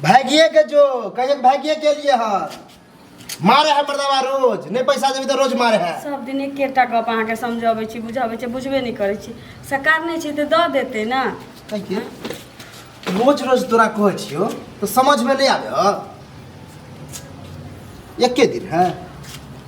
भागिए के जो कहिए भागिए के लिए है मारे है मर्दवा रोज नहीं पैसा देबी तो रोज मारे है सब दिन एकेटा गप अहाँके समझबै छी बुझबै छी बुझबे नहि करै छी सरकार नहि छै तऽ दऽ देतै ने कहिए रोज रोज तोरा कहै छियो तो समझ में नहीं आवे हो एके दिन है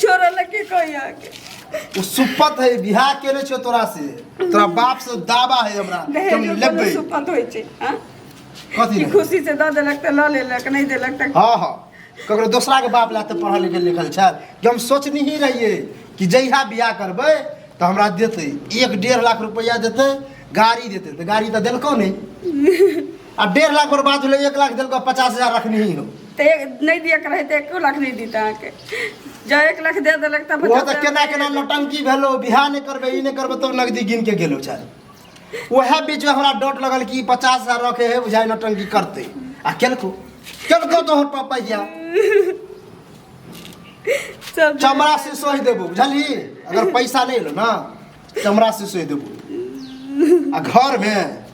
छोरा लगे कोई आके उ सुपत है बियाह केने छो तोरा से तोरा बाप से दावा है हमरा कि हम दहेज लेबै ऊपर सुपत होई छै हां कथी कि रे? खुशी से द देलक त ल लेलक नहीं देलक त हाँ हाँ ककरो दोसरा के बाप लाते पढ़ल लिखल लिखल छल कि हम सोचनी ही रहिए कि जहिया बियाह करबै तऽ हमरा देतै एक डेढ़ लाख रुपैआ देतै गाड़ी देतै तऽ गाड़ी तऽ देलकौ नहि आ डेढ़ लाख बर्बाद भेलै एक लाख देलको पचास हजार रखनी ही हो तऽ एक- नहि दिअ के रहै तऽ एको लाख नहि दित अहाँके जँ एक लाख दे देलक तब ओहो तऽ केना केना नौटंकी भेलो बिहा नहि करबै ई नहि करबै तब नगदी गिन के गेलो चाहे ओएह बीच में हमरा डर लगल कि ई पचास हजार रखे है बुझाइ नौटंकी करते आ केलको केलको तोहर पापा या सब चमड़ा से सोहि देबो बुझलही अगर पैसा नहि एलो ना चमड़ा से सोहि देबो आ घर में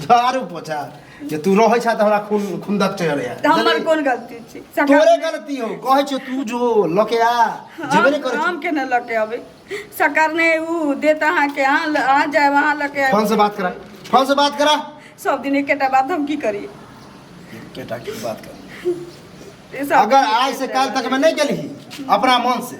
झाड़ू पोछा जे तू रहै छा त हमरा खून खुंदक चढ़ै है हमर कोन गलती छै सकाल तोरे में- गलती हो कहै छौ तू जो लके आ जेबे ने हम- करै हम केना लऽ के अबै सकार ने उ देत अहाँ के अहाँ ल- अहाँ जायब अहाँ लऽ के फोन आयब से बात करा फोन से बात करा सब दिन एकेटा बात हम की करी केटा की बात कर ई सब अगर दिन आज से एकेटा काल बात। तक में नहीं गेली अपना मन से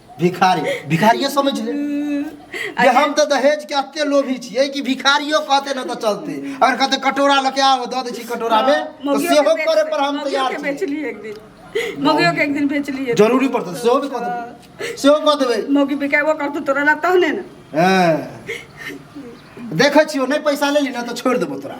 भिखारी भिखारिये समझ ले जे हम तऽ दहेज के अते लोभी छियै कि भिखारियो कहते न तऽ चलते अगर कहते कटोरा लऽ के आओ दऽ दै छी कटोरा में तऽ मौगियो सेहो के करे बेच- पर हम मौगियो तैयार के छी बेचली एक दिन मौगियो के एक दिन बेचली एक जरूरी पड़तै सेहो भी कऽ देबै सेहो कऽ देबै दिन। मौगी बिकेबो करतौ तोरा ला तहने ने हँ। देखै छियौ नहि पैसा लेली ने तऽ छोड़ि देबौ तोरा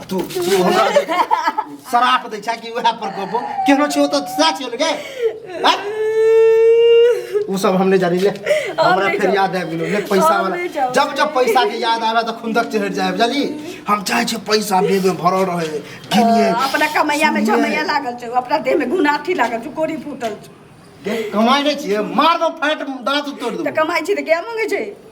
आ तू तू हमरा जे शराप दै छै कि उएह पर कहबो केहनो छियो तऽ सच छियो लगे उ सब हम नहीं जानी ले हमरा नहीं फिर जाब। याद आबि गेलो ले पैसा हम वाला नहीं जाब। जब जब पैसा के याद आवे तऽ खुंदक चढ़ि जाए बुझली हम चाहे छियै पैसा बेग में भरल रहे गिनिए अपना कमैया में सुनिए। झमैया लागल छै अपना देह में गुनाथी लागल छै कोरी फूटल छै कमाई नहीं छियै मार दो फैट दांत तोड़ दो तऽ कमाइ छै तऽ क्या मंगै छै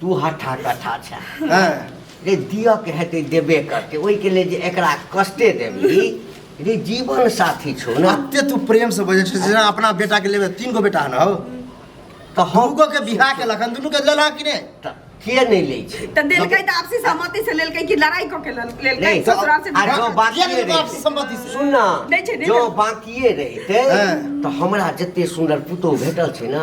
तू हठा कठा छे हँ रे दिअ के हेतै देबे करतै ओहिके लेल जे एकरा कष्टे देबी रे जीवन साथी छौ ने एते तू प्रेम से बजे छे जेना अपना बेटा के लेबे तीन गो बेटा हन हौ तऽ हम गो के बिहा के लखन दुनू के लेला कि ने तऽ के नहि लै छै तऽ देलकै तऽ आपसी सहमति से लेलकै कि लड़ाई कऽ के लेल- लेलकै नहीं, तो- ससुराल से आ बियाह जो कऽ- बात- किया ने बाप से संपत्ति से सुन ना नहीं छै, नहीं जो छै। बाकिए रहितै हाँ। तऽ हमरा जते सुन्दर पुतोह भेटल छै ने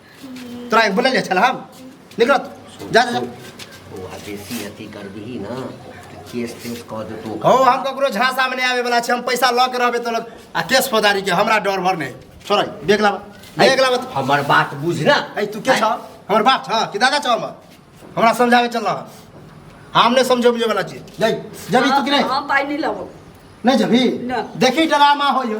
तोरा एक बोलल छल हम निकल जा जा बौआ बेसी अथी करबिही ना तऽ केस तेस कऽ देतौ हौ हम ककरो झांसा में नहीं आवे वाला छी हम पैसा लऽ के रहबे तो लोग आ केस फौदारी के हमरा डर भर नहीं छोड़ देख लाबा देख लाबा तू। हमर बात बुझ ना ऐ तू के छ हमर बाप छ कि दादा छ हमर हमरा समझावे चल रहा हम नहीं समझे बुझे वाला चीज जय जबी तू कि नहीं हम पाई नहीं लबो नहीं जबी ना। देखी डरामा हो यो